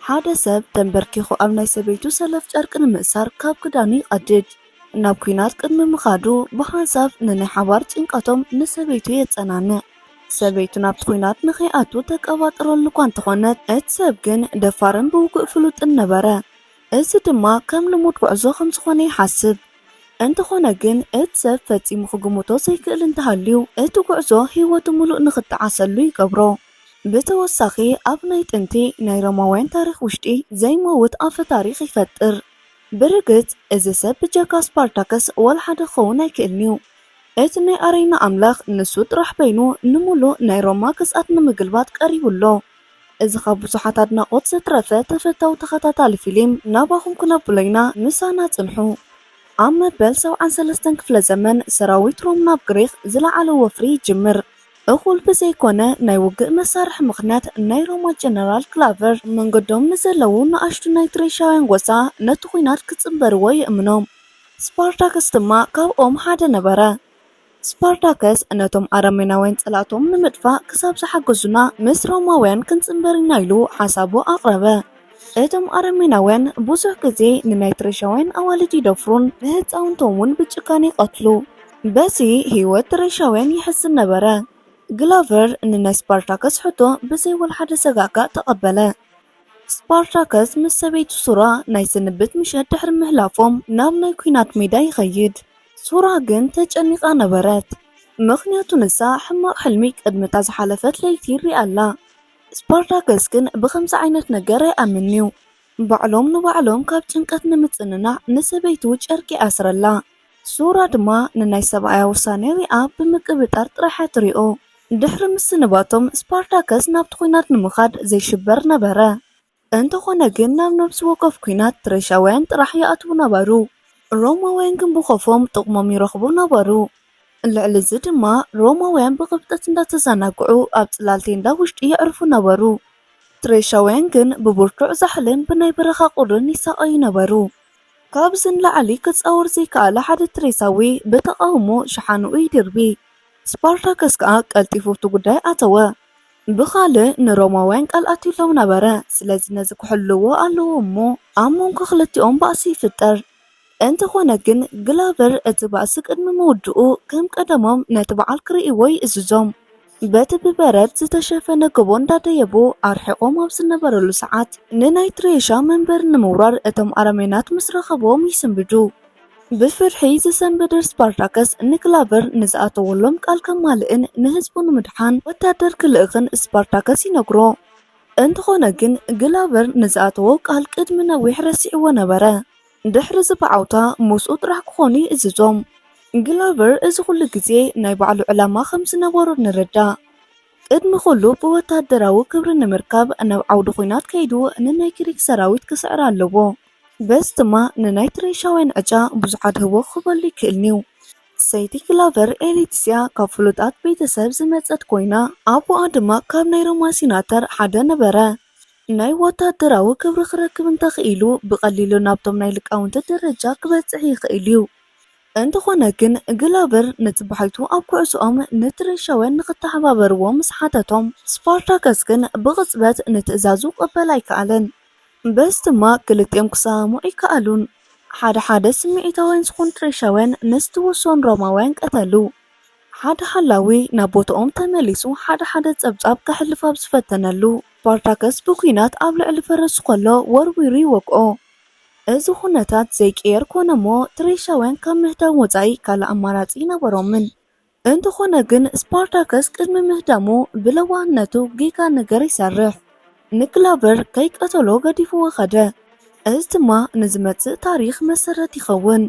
ሓደ ሰብ ተምበርኪኹ ኣብ ናይ ሰበይቱ ሰለፍ ጨርቂ ንምእሳር ካብ ክዳኑ ይቐድድ። ናብ ኲናት ቅድሚ ምኻዱ ብሓንሳብ ንናይ ሓባር ጭንቀቶም ንሰበይቱ የጸናንዕ። ሰበይቱ ናብቲ ኲናት ንኸይኣቱ ተቀባጥረሉ'ኳ እንተኾነት እቲ ሰብ ግን ደፋርን ብውግእ ፍሉጥን ነበረ። እዚ ድማ ከም ልሙድ ጉዕዞ ከም ዝኾነ ይሓስብ። እንተኾነ ግን እቲ ሰብ ፈጺሙ ክግምቶ ዘይክእል እንተሃልዩ እቲ ጉዕዞ ህይወቱ ምሉእ ንኽጠዓሰሉ ይገብሮ። ብተወሳኺ ኣብ ናይ ጥንቲ ናይ ሮማውያን ታሪኽ ውሽጢ ዘይመውት ኣፈ ታሪኽ ይፈጥር። ብርግጽ እዚ ሰብ ብጀካ ስፓርታከስ ዋላ ሓደ ክኸውን ኣይክእልን'ዩ። እቲ ናይ ኣረይና ኣምላኽ ንሱ ጥራሕ በይኑ ንምሉእ ናይ ሮማ ግዝኣት ንምግልባጥ ቀሪቡ ኣሎ። እዚ ካብ ብዙሓት ኣድናቆት ዘትረፈ ተፈታዊ ተኸታታሊ ፊሊም ናባኹም ክነብሎ ኢና ምሳና ጽንሑ። ኣብ መበል ሰብዓን ሰለስተን ክፍለ ዘመን ሰራዊት ሮም ናብ ግሪኽ ዝለዓለ ወፍሪ ይጅምር። እኹል ብዘይኮነ ናይ ውግእ መሳርሒ ምኽንያት ናይ ሮማ ጀነራል ክላቨር ኣብ መንገዶም ንዘለዉ ንኣሽቱ ናይ ትሬሻውያን ጎሳ ነቲ ኹናት ክጽንበርዎ ይእምኖም። ስፓርታከስ ድማ ካብኦም ሓደ ነበረ። ስፓርታከስ ነቶም ኣረሜናውያን ጸላእቶም ንምጥፋእ ክሳብ ዝሓገዙና ምስ ሮማውያን ክንጽንበር ኢና ኢሉ ሓሳቡ ኣቕረበ። እቶም ኣረሜናውያን ብዙሕ ግዜ ንናይ ትሬሻውያን ኣዋልድ ይደፍሩን ንህጻውንቶም እውን ብጭካኔ ይቐትሉ። በዚ ህይወት ትሬሻውያን ይሕዝን ነበረ። ግላቨር ንናይ ስፓርታከስ ሕቶ ብዘይ ወልሓደ ሰጋእጋእ ተቐበለ። ስፓርታከስ ምስ ሰበይቱ ሱራ ናይ ስንብት ምሸት ድሕሪ ምህላፎም ናብ ናይ ኲናት ሜዳ ይኸይድ። ሱራ ግን ተጨኒቓ ነበረት፣ ምኽንያቱ ንሳ ሕማቕ ሕልሚ ቅድሚ እታ ዝሓለፈት ለይቲ ርእያ ኣላ። ስፓርታከስ ግን ብኸምዚ ዓይነት ነገር ኣይኣምንን'ዩ። ባዕሎም ንባዕሎም ካብ ጭንቀት ንምጽንናዕ ንሰበይቱ ጨርቂ ይኣስረላ። ሱራ ድማ ንናይ ሰብኣያ ውሳኔ ሪኣ ብምቅብጣር ጥራሕ'ያ ትሪኦ። ድሕሪ ምስንባቶም፣ ስፓርታከስ ናብቲ ኵናት ንምኻድ ዘይሽበር ነበረ። እንተኾነ ግን ናብ ነብሲ ወከፍ ኩናት ፕረሻውያን ጥራሕ ይኣትዉ ነበሩ። ሮማውያን ግን ብኾፎም ጥቕሞም ይረኽቡ ነበሩ። ልዕሊ እዚ ድማ ሮማውያን ብቕብጠት እንዳተዛናግዑ ኣብ ጽላል ቴንዳ ውሽጢ የዕርፉ ነበሩ። ፕረሻውያን ግን ብብርቱዕ ዛሕልን ብናይ በረኻ ቁርን ይሳቐዩ ነበሩ። ካብዚ ንላዕሊ ክጻወር ዘይከኣለ ሓደ ትሬሳዊ ብተቓውሞ ሸሓንኡ ይድርቢ። ስፓርታከስ ከኣ ቀልጢፉ ኣብቲ ጉዳይ ኣተወ። ብኻልእ ንሮማውያን ቃል ኣትዩሎም ነበረ፣ ስለዚ ነዚ ክሕልዉዎ ኣለዎም እሞ ኣብ መንጎ ክልቲኦም ባእሲ ይፍጠር። እንተዀነ ግን፣ ግላቨር እቲ ባእሲ ቅድሚ ምውድኡ ከም ቀደሞም ነቲ በዓል ክርእይዎ ይእዝዞም። በቲ ብበረድ ዝተሸፈነ ጎቦ እንዳደየቡ ኣርሒቖም ኣብ ዝነበሩሉ ሰዓት፣ ንናይ ትሬሻ መንበሪ ንምውራር እቶም ኣረሜናት ምስ ረኸቡዎም ይስንብዱ። ብፍርሒ ዝሰንበደ ስፓርታከስ ንክላቨር ንዝኣተወሎም ቃል ከማልእን ንህዝቡ ንምድሓን ወታደር ክልእኽን ስፓርታከስ ይነግሮ። እንተኾነ ግን ግላቨር ንዝኣተዎ ቃል ቅድሚ ነዊሕ ረሲዕዎ ነበረ። ድሕሪ እዚ ብዓውታ ምስኡ ጥራሕ ክኾኑ ይእዝዞም። ግላቨር እዚ ኩሉ ግዜ ናይ ባዕሉ ዕላማ ከምዝነበሮ ንርዳእ። ቅድሚ ኩሉ ብወታደራዊ ክብሪ ንምርካብ ናብ ዓውዲ ኹናት ከይዱ ንናይ ግሪክ ሰራዊት ክስዕር ኣለዎ። በዚ ድማ ንናይቲ ሬሻውያን ዕጫ ብዙሕ ኣድህቦ ክህበሉ ይክእልን'ዩ። ሰይቲ ክላቨር ኤሌትስያ ካብ ፍሉጣት ቤተሰብ ዝመጸት ኰይና፣ ኣቦኣ ድማ ካብ ናይ ሮማ ሲናተር ሓደ ነበረ። ናይ ወተሃደራዊ ክብሪ ክረክብ እንተ ኽኢሉ፣ ብቐሊሉ ናብቶም ናይ ልቃውንቲ ደረጃ ክበጽሕ ይኽእል'ዩ። እንተዀነ ግን፣ ግላቨር ነቲ ባሕቱ ኣብ ኵዕሶኦም ነቲ ሬሻውያን ንኽተሓባበርዎ ምስ ሓተቶም፣ ስፓርታከስ ግን ብቕጽበት ንትእዛዙ ክቕበል ኣይከኣለን። በዚ ድማ ክልቲኦም ክሰማምዑ ኣይከኣሉን። ሓደ ሓደ ስምዒታውያን ዝኾኑ ትሬሻውያን ምስ ትውሶን ሮማውያን ቀተሉ። ሓደ ሓላዊ ናብ ቦታኦም ተመሊሱ ሓደ ሓደ ጸብጻብ ከሕልፍ ኣብ ዝፈተነሉ፣ ስፓርታከስ ብኲናት ኣብ ልዕሊ ፈረሱ ከሎ ወርዊሩ ይወግኦ። እዚ ኩነታት ዘይቅየር ኮነ'ሞ ትሬሻውያን ካብ ምህዳም ወጻኢ ካልእ ኣማራጺ ኣይነበሮምን። እንተኾነ ግን ስፓርታከስ ቅድሚ ምህዳሙ ብለዋህነቱ ጌጋ ነገር ይሰርሕ። ንግላበር ከይቀተሎ ገዲፍዎ ከደ። እዚ ድማ ንዝመጽእ ታሪኽ መሰረት ይኸውን።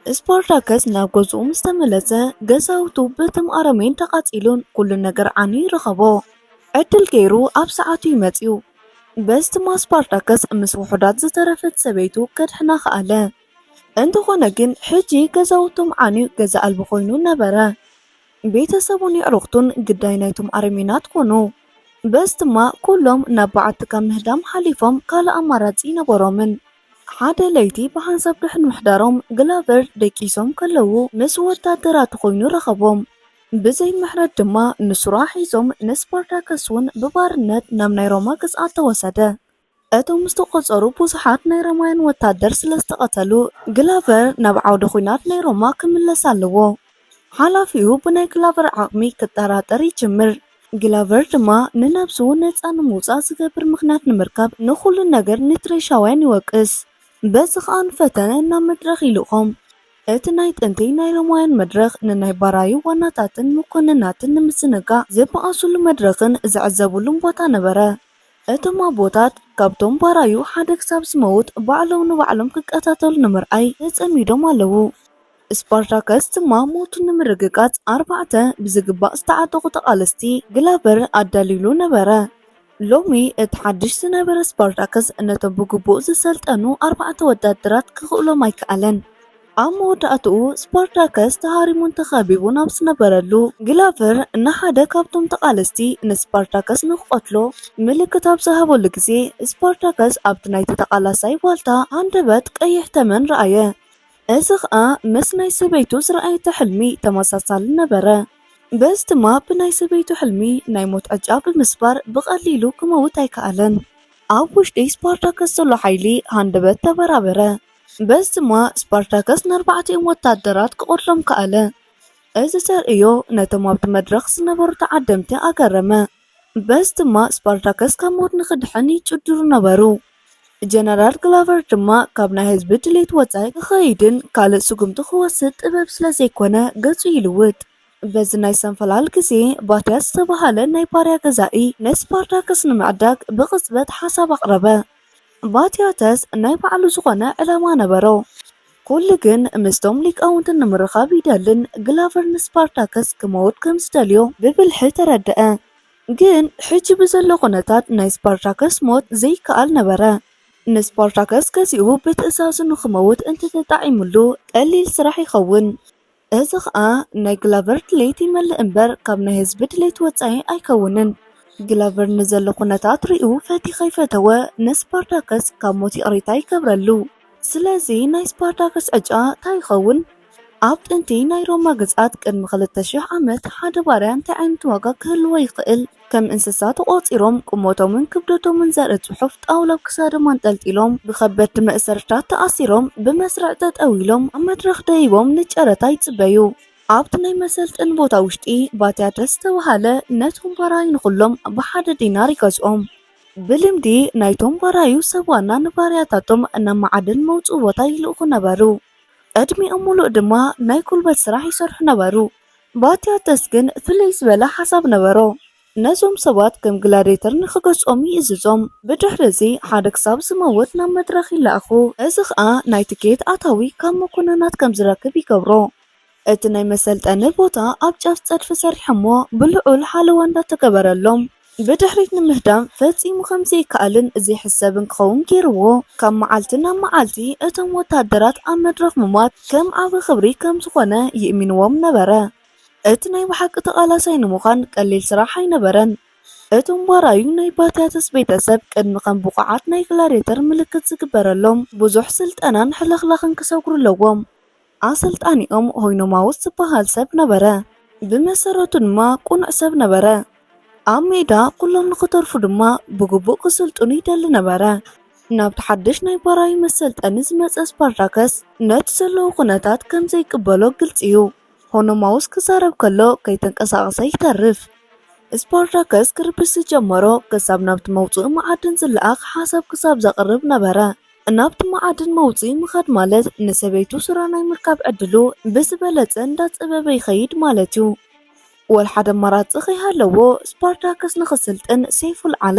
ስፓርታከስ ናብ ገዝኡ ምስ ተመለሰ ገዛውቱ በቶም ኣረሜን ተቓጺሉን ኩሉ ነገር ዓንዩ ረኸቦ። ዕድል ገይሩ ኣብ ሰዓቱ እዩ መጺኡ። በዚ ድማ ስፓርታከስ ምስ ውሑዳት ዝተረፈት ሰበይቱ ከድሕና ከኣለ። እንተኾነ ግን ሕጂ ገዛውቶም ዓንዩ ገዛ ኣልቦ ኮይኑ ነበረ። ቤተሰቡን የዕሩኽቱን ግዳይ ናይቶም ኣረሜናት ኮኑ። በዚ ድማ ኩሎም ናብ በዓቲ ካብ ምህዳም ሓሊፎም ካልእ ኣማራጺ ኣይነበሮምን። ሓደ ለይቲ ብሓንሳብ ድሕሪ ምሕዳሮም ግላቨር ደቂሶም ከለዉ ምስ ወታደራት ኮይኑ ረኸቦም። ብዘይ ምሕረት ድማ ንሱራ ሒዞም ንስፓርታከስ'ውን ብባርነት ናብ ናይ ሮማ ግዝኣት ተወሰደ። እቶም ዝተቖጸሩ ብዙሓት ናይ ሮማውያን ወታደር ስለ ዝተቐተሉ፣ ግላቨር ናብ ዓውደ ኹናት ናይ ሮማ ክምለስ ኣለዎ። ሓላፊኡ ብናይ ግላቨር ዓቕሚ ክጠራጠር ይጅምር። ግላቨር ድማ ንነብሱ ነጻ ንምውጻእ ዝገብር ምኽንያት ንምርካብ ንኹሉ ነገር ንትሬሻውያን ይወቅስ። በዚ ኸኣ ንፈተነ ናብ መድረኽ ይልእኾም። እቲ ናይ ጥንቲ ናይ ሮማውያን መድረኽ ንናይ ባራዩ ዋናታትን መኮንናትን ንምዝንጋዕ ዝበኣሱሉ መድረኽን ዝዕዘቡሉን ቦታ ነበረ። እቶም ኣቦታት ካብቶም ባራዩ ሓደ ክሳብ ዝመውት ባዕሎም ንባዕሎም ክቀታተሉ ንምርኣይ ተጸሚዶም ኣለዉ። ስፓርታከስ ድማ ሞቱ ንምርግጋጽ ኣርባዕተ ብዝግባእ ዝተዓጠቑ ተቓለስቲ፣ ግላቨር፣ ኣዳልዩሉ ነበረ። ሎሚ እቲ ሓድሽ ዝነበረ ስፓርታከስ ነቶም ብግቡእ ዝሰልጠኑ ኣርባዕተ ወተሃደራት ክኽእሎም ኣይከኣለን። ኣብ መወዳእትኡ ስፓርታከስ ተሃሪሙን ተኸቢቡን ኣብ ዝነበረሉ፣ ግላቨር ንሓደ ካብቶም ተቓለስቲ ንስፓርታከስ ንክቐትሎ ምልክት ኣብ ዝሃበሉ ግዜ፣ ስፓርታከስ ኣብቲ ናይቲ ተቓላሳይ ዋልታ ሃንደበት ቀይሕ ተመን ረኣየ። እዚ ኸኣ ምስ ናይ ሰበይቱ ዝረኣየቶ ሕልሚ ተመሳሳሊ ነበረ። በዚ ድማ ብናይ ሰበይቱ ሕልሚ ናይ ሞት ዕጫ ብምስባር ብቐሊሉ ክመውት ኣይከኣለን። ኣብ ውሽጢ ስፓርታከስ ዘሎ ሓይሊ ሃንደበት ተበራበረ። በዚ ድማ ስፓርታከስ ንኣርባዕቲኦም ወተሃደራት ክቐትሎም ከኣለ። እዚ ተርእዮ ነቶም ኣብቲ መድረኽ ዝነበሩ ተዓደምቲ ኣገረመ፣ በዚ ድማ ስፓርታከስ ካብ ሞት ንኽድሕን ይጭድሩ ነበሩ። ጀነራል ግላቨር ድማ ካብ ናይ ህዝቢ ድሌት ወጻኢ ክኸይድን ካልእ ስጉምቲ ክወስድ ጥበብ ስለ ዘይኰነ ገጹ ይልውጥ። በዚ ናይ ሰንፈላል ግዜ፣ ባትያስ ዝተባህለ ናይ ባርያ ገዛኢ ንስፓርታከስ ንምዕዳግ ብቕጽበት ሓሳብ ኣቕረበ። ባቲዮተስ ናይ ባዕሉ ዝኾነ ዕላማ ነበሮ፣ ኩሉ ግን ምስቶም ሊቃውንቲ ንምርኻብ ይደልን ግላቨር ንስፓርታከስ ክመውት ከም ዝደልዮ ብብልሒ ተረደኣ። ግን ሕጂ ብዘሎ ኩነታት ናይ ስፓርታከስ ሞት ዘይከኣል ነበረ። ንስፓርታከስ ገዚኡ ብትእዛዙ ንኽመውት እንተተጣዒሙሉ ቀሊል ስራሕ ይኸውን። እዚ ኸኣ ናይ ግላቨር ድሌት ይመልእ እምበር ካብ ናይ ህዝቢ ድሌት ወጻኢ ኣይከውንን። ግላቨር ንዘሎ ኩነታት ሪኡ ፈትዩ ከይፈተወ ንስፓርታከስ ካብ ሞት ይቕሬታ ይገብረሉ። ስለዚ ናይ ስፓርታከስ ዕጫ ታይ ይኸውን? ኣብ ጥንቲ ናይ ሮማ ግዝኣት ቅድሚ ክልተ ሽሕ ዓመት ሓደ ባርያ እንታይ ዓይነት ዋጋ ክህልዎ ይኽእል? ከም እንስሳ ተቖጺሮም፣ ቁመቶምን ክብደቶምን ዘርኢ ጽሑፍ ጣውላ ኣብ ክሳዶም ኣንጠልጢሎም፣ ብኸበድቲ መእሰርትታት ተኣሲሮም፣ ብመስርዕ ጠጠው ኢሎም፣ ኣብ መድረኽ ደይቦም ንጨረታ ይጽበዩ። ኣብቲ ናይ መሰልጠኒ ቦታ ውሽጢ ባትያተ ዝተባህለ ነቶም ባራዩ ንኹሎም ብሓደ ዲናር ይገዝኦም። ብልምዲ ናይቶም ባራዩ ሰብ ዋና ንባርያታቶም ናብ መዓድን መውጽኢ ቦታ ይልእኹ ነበሩ። ዕድሚኦም ምሉእ ድማ ናይ ጉልበት ስራሕ ይሰርሑ ነበሩ። ባቲያተስ ግን ፍልይ ዝበለ ሓሳብ ነበሮ። ነዞም ሰባት ከም ግላድየተር ንኽገዝኦም ይእዝዞም። ብድሕርዚ ሓደ ክሳብ ዝመውት ናብ መድረኽ ይለኣኹ፣ እዚ ኸኣ ናይ ትኬት ኣታዊ ካብ መኮንናት ከም ዝረክብ ይገብሮ። እቲ ናይ መሰልጠኒ ቦታ ኣብ ጫፍ ጸድፊ ሰሪሖሞ ብልዑል ሓለዋ እንዳተገበረሎም፣ ብድሕሪት ንምህዳም ፈጺሙ ከም ዘይከኣልን ዘይሕሰብን ክኸውን ገይርዎ። ካብ መዓልቲ ናብ መዓልቲ እቶም ወተሃደራት ኣብ መድረኽ ምሟት ከም ዓቢ ክብሪ ከም ዝኾነ ይእሚንዎም ነበረ። እቲ ናይ ብሓቂ ተቓላሳይ ንምዃን ቀሊል ስራሕ ኣይነበረን። እቶም ባራዩ ናይ ባቲያተስ ቤተሰብ ቅድሚ ከም ብቑዓት ናይ ግላድየተር ምልክት ዝግበረሎም ብዙሕ ስልጠናን ሕልኽላኽን ክሰግሩ ኣለዎም። ኣሰልጣኒኦም ሆይኖማውስ ዝበሃል ሰብ ነበረ፣ ብመሰረቱ ድማ ቅኑዕ ሰብ ነበረ። ኣብ ሜዳ ኩሎም ንኽተርፉ ድማ ብግቡእ ክስልጥኑ ይደሊ ነበረ። ናብቲ ሓድሽ ናይ ባራዩ መሰልጠኒ ዝመጸ ስፓርታከስ ነቲ ዘለዎ ኩነታት ከም ዘይቅበሎ ግልጺ እዩ። ሆኖማውስ ክዛረብ ከሎ ከይተንቀሳቐሰ ይተርፍ። ስፓርታከስ ክርብሽ ዝጀመሮ ክሳብ ናብቲ መውጽኢ መዓድን ዝለኣኽ ሓሳብ ክሳብ ዘቕርብ ነበረ። ናብቲ መዓድን መውፅኢ ምኻድ ማለት ንሰበይቱ ስራ ናይ ምርካብ ዕድሉ ብዝበለፀ እንዳፀበበ ይኸይድ ማለት እዩ። ወልሓደ ኣማራፂ ከይሃለዎ ስፓርታከስ ንኽስልጥን ሴይፉል ዓለ።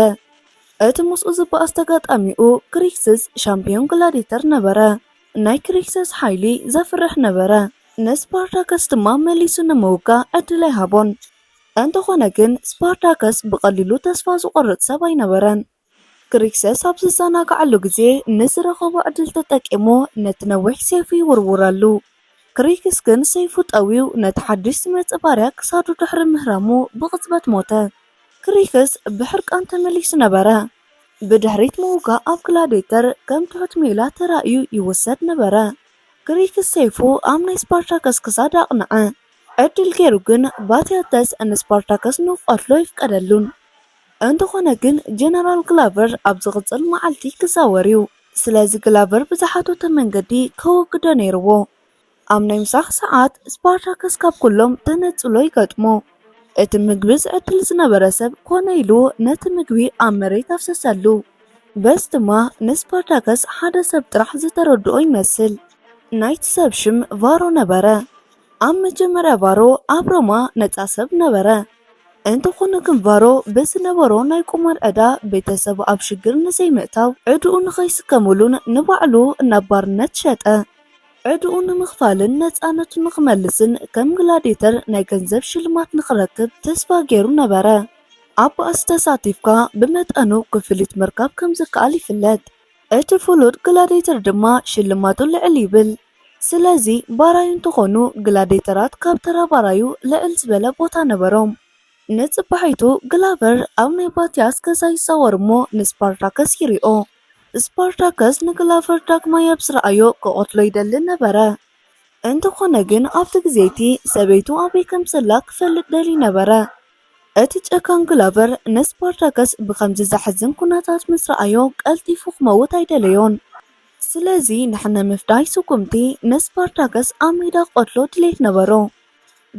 እቲ ምስኡ ዝበኣስ ተጋጣሚኡ ክሪክስስ ሻምፒዮን ግላዲተር ነበረ። ናይ ክሪክሰስ ሓይሊ ዘፍርሕ ነበረ። ንስፓርታከስ ድማ መሊሱ ንምውጋእ ዕድል ኣይሃቦን። እንተኾነ ግን ስፓርታከስ ብቐሊሉ ተስፋ ዝቖርፅ ሰብ ኣይነበረን። ክሪክሰስ ኣብ ዝዘናግዓሉ ግዜ ንዝረኸቦ ዕድል ተጠቂሙ ነቲ ነዊሕ ሰይፉ ይውርውረሉ። ክሪክስ ግን ሰይፉ ጠውዩ ነቲ ሓድሽ ዝመጽእ ባርያ ክሳዱ ድሕሪ ምህራሙ ብቕጽበት ሞተ። ክሪክስ ብሕርቃን ተመሊሱ ነበረ። ብድሕሪት ምውጋእ ኣብ ግላዲየተር ከም ትሑት ሜላ ተራእዩ ይውሰድ ነበረ። ክሪክስ ሰይፉ ኣብ ናይ ስፓርታከስ ክሳድ ኣቕንዐ። ዕድል ገይሩ ግን ባቲያተስ ንስፓርታከስ ንኽቐትሎ ኣይፍቀደሉን። እንተኾነ ግን ጀነራል ግላቨር ኣብ ዝቕጽል መዓልቲ ክዛወር እዩ፣ ስለዚ ግላቨር ብዝሓተቶ መንገዲ ከወግዶ ነይርዎ። ኣብ ናይ ምሳሕ ሰዓት ስፓርታከስ ካብ ኩሎም ተነጽሎ ይገጥሞ። እቲ ምግቢ ዝዕድል ዝነበረ ሰብ ኮነ ኢሉ ነቲ ምግቢ ኣብ መሬት ኣፍሰሰሉ። በዚ ድማ ንስፓርታከስ ሓደ ሰብ ጥራሕ ዝተረድኦ ይመስል። ናይቲ ሰብ ሽም ቫሮ ነበረ። ኣብ መጀመርያ ቫሮ ኣብ ሮማ ነጻ ሰብ ነበረ። እንተኾነ ግን ቫሮ ብዝነበሮ ናይ ቁማር ዕዳ ቤተሰቡ ኣብ ሽግር ንዘይምእታው ዕድኡ ንኸይስከሙሉን ንባዕሉ ናብ ባርነት ሸጠ። ዕድኡ ንምኽፋልን ነጻነቱ ንኽመልስን ከም ግላዲየተር ናይ ገንዘብ ሽልማት ንኽረክብ ተስፋ ገይሩ ነበረ። ኣብ ባእሲ ተሳቲፍካ ብመጠኑ ክፍሊት ምርካብ ከም ዝከኣል ይፍለጥ፣ እቲ ፍሉጥ ግላዲየተር ድማ ሽልማቱ ልዕል ይብል። ስለዚ ባራዩ እንተኾኑ ግላዴተራት ካብ ተራ ባራዩ ልዕል ዝበለ ቦታ ነበሮም። ንጽባሒቱ ግላቨር ኣብ ናይ ባቲያስ ገዛ ይዛወር እሞ ንስፓርታከስ ይሪኦ። ስፓርታከስ ንግላቨር ዳግማይ ኣብ ዝረኣዮ ክቐትሎ ይደሊ ነበረ። እንተኾነ ግን ኣብቲ ግዜ'ቲ ሰበይቱ ኣበይ ከም ዘላ ክፈልጥ ደልዩ ነበረ። እቲ ጨካን ግላቨር ንስፓርታከስ ብኸምዚ ዘሕዝን ኩነታት ምስ ረኣዮ ቀልጢፉ ክመውት ኣይደለዮን። ስለዚ ንሕነ ምፍዳይ ስጉምቲ ንስፓርታከስ ኣብ ሜዳ ክቐትሎ ድሌት ነበሮ።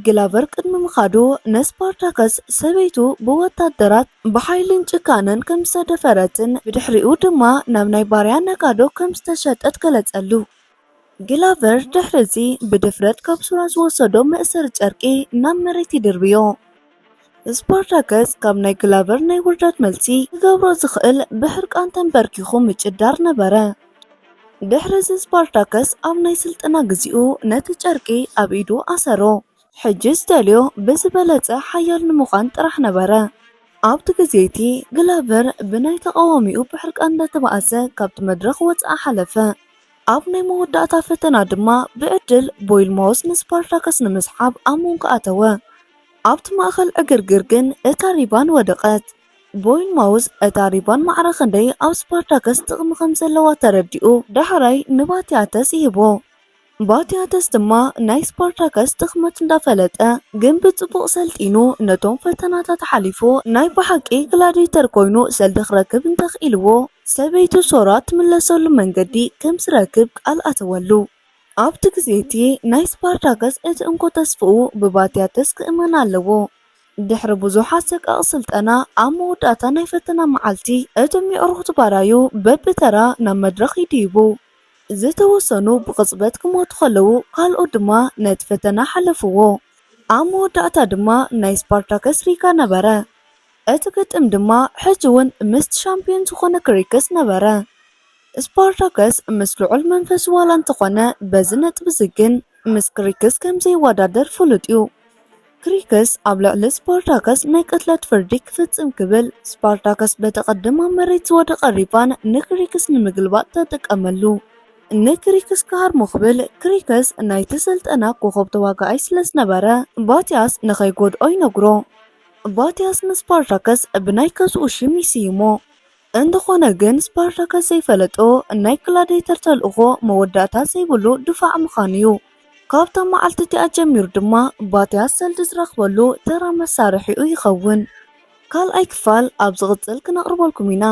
ግላቨር ቅድሚ ምኻዱ ንስፓርታከስ ሰበይቱ ብወታደራት ብሓይልን ጭካነን ከም ዝተደፈረትን ብድሕሪኡ ድማ ናብ ናይ ባርያ ነጋዶ ከም ዝተሸጠት ገለጸሉ። ግላቨር ድሕሪ'ዚ ብድፍረት ካብ ሱራ ዝወሰዶ መእሰሪ ጨርቂ ናብ መሬት ይድርብዮ። ስፓርታከስ ካብ ናይ ግላቨር ናይ ውርደት መልሲ ክገብሮ ዝኽእል ብሕርቃን ተንበርኪኹ ምጭዳር ነበረ። ድሕሪ እዚ ስፓርታከስ ኣብ ናይ ስልጠና ግዚኡ ነቲ ጨርቂ ኣብ ኢዱ ኣሰሮ። ሕጂ ዝደልዮ ብዝበለጸ ሓያል ንምዃን ጥራሕ ነበረ። ኣብቲ ግዜ እቲ ግላቨር ብናይ ተቓዋሚኡ ብሕርቃን እንዳተባኣሰ ካብቲ መድረኽ ወጽኣ ሓለፈ። ኣብ ናይ መወዳእታ ፈተና ድማ ብዕድል ቦይልማውስ ንስፓርታከስ ንምስሓብ ኣብ መንጎ ኣተወ። ኣብቲ ማእከል ዕግርግር ግን እታ ሪባን ወደቐት። ቦይል ማውዝ እታ ሪባን ማዕረ ክንደይ ኣብ ስፓርታከስ ጥቕሚ ከም ዘለዋ ተረዲኡ ዳሕራይ ንባቲያተስ ይህቦ። ባቲያተስ ድማ ናይ ስፓርታከስ ድኽመት እንዳፈለጠ ግን ብጽቡቕ ሰልጢኑ ነቶም ፈተናታት ሓሊፉ ናይ ብሓቂ ግላዲተር ኮይኑ ሰልዲ ክረክብ እንተኽኢልዎ ሰበይቱ ሶራ ትምለሰሉ መንገዲ ከም ዝረክብ ቃል ኣተወሉ። ኣብቲ ግዜ እቲ ናይ ስፓርታከስ እቲ እንኮ ተስፋኡ ብባቲያተስ ክእመን ኣለዎ። ድሕሪ ብዙሕ ኣሰቃቂ ስልጠና ኣብ መወዳእታ ናይ ፈተና መዓልቲ እቶም የዕሩኽቱ ባራዩ በብተራ ናብ መድረኽ ይድይቡ። ዝተወሰኑ ብቕጽበት ክሞቱ ከለዉ ካልኦት ድማ ነቲ ፈተና ሓለፍዎ። ኣብ መወዳእታ ድማ ናይ ስፓርታከስ ሪካ ነበረ። እቲ ግጥም ድማ ሕጂ ውን ምስቲ ሻምፕዮን ዝኾነ ክሪክስ ነበረ። ስፓርታከስ ምስ ልዑል መንፈሱ ዋላ እንተኾነ በዚ ነጥቢ'ዚ ግን ምስ ክሪክስ ከም ዘይወዳደር ፍሉጥ'ዩ። ክሪክስ ኣብ ልዕሊ ስፓርታከስ ናይ ቅትለት ፍርዲ ክፍጽም ክብል ስፓርታከስ በቲ ቅድም ኣብ መሬት ዝወደቐ ሪቫን ንክሪክስ ንምግልባጥ ተጠቀመሉ። ንክሪክስ ክሃርሞ ክብል ክሪክስ ናይቲ ስልጠና ኮኾብ ተዋጋኣይ ስለ ዝነበረ ባቲያስ ንኸይጎድኦ ይነግሮ። ባቲያስ ንስፓርታከስ ብናይ ገዝኡ ሽም ይስይሞ። እንተኾነ ግን ስፓርታከስ ዘይፈለጦ ናይ ግላዲየተር ተልእኾ መወዳእታ ዘይብሉ ድፋዕ ምዃኑ እዩ። ካብታ መዓልቲ እቲኣ ጀሚሩ ድማ ባትያስ ሰልዲ ዝረኽበሉ ተራ መሳርሒኡ ይኸውን። ካልኣይ ክፋል ኣብ ዝቕጽል ክነቕርበልኩም ኢና።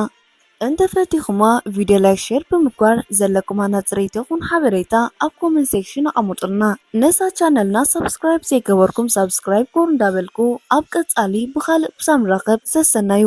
እንተፈቲኹማ ቪድዮ ላይክ ሼር ብምግባር ዘለኩም ሃናጽርይቲ ይኹን ሓበሬታ ኣብ ኮመንት ሴክሽን ኣቐሙጡልና። ነዛ ቻነልና ሳብስክራይብ ዘይገበርኩም ሳብስክራይብ ጎር እንዳበልኩ ኣብ ቀጻሊ ብኻልእ ብሳብ ንራኸብ ሰሰናዩ።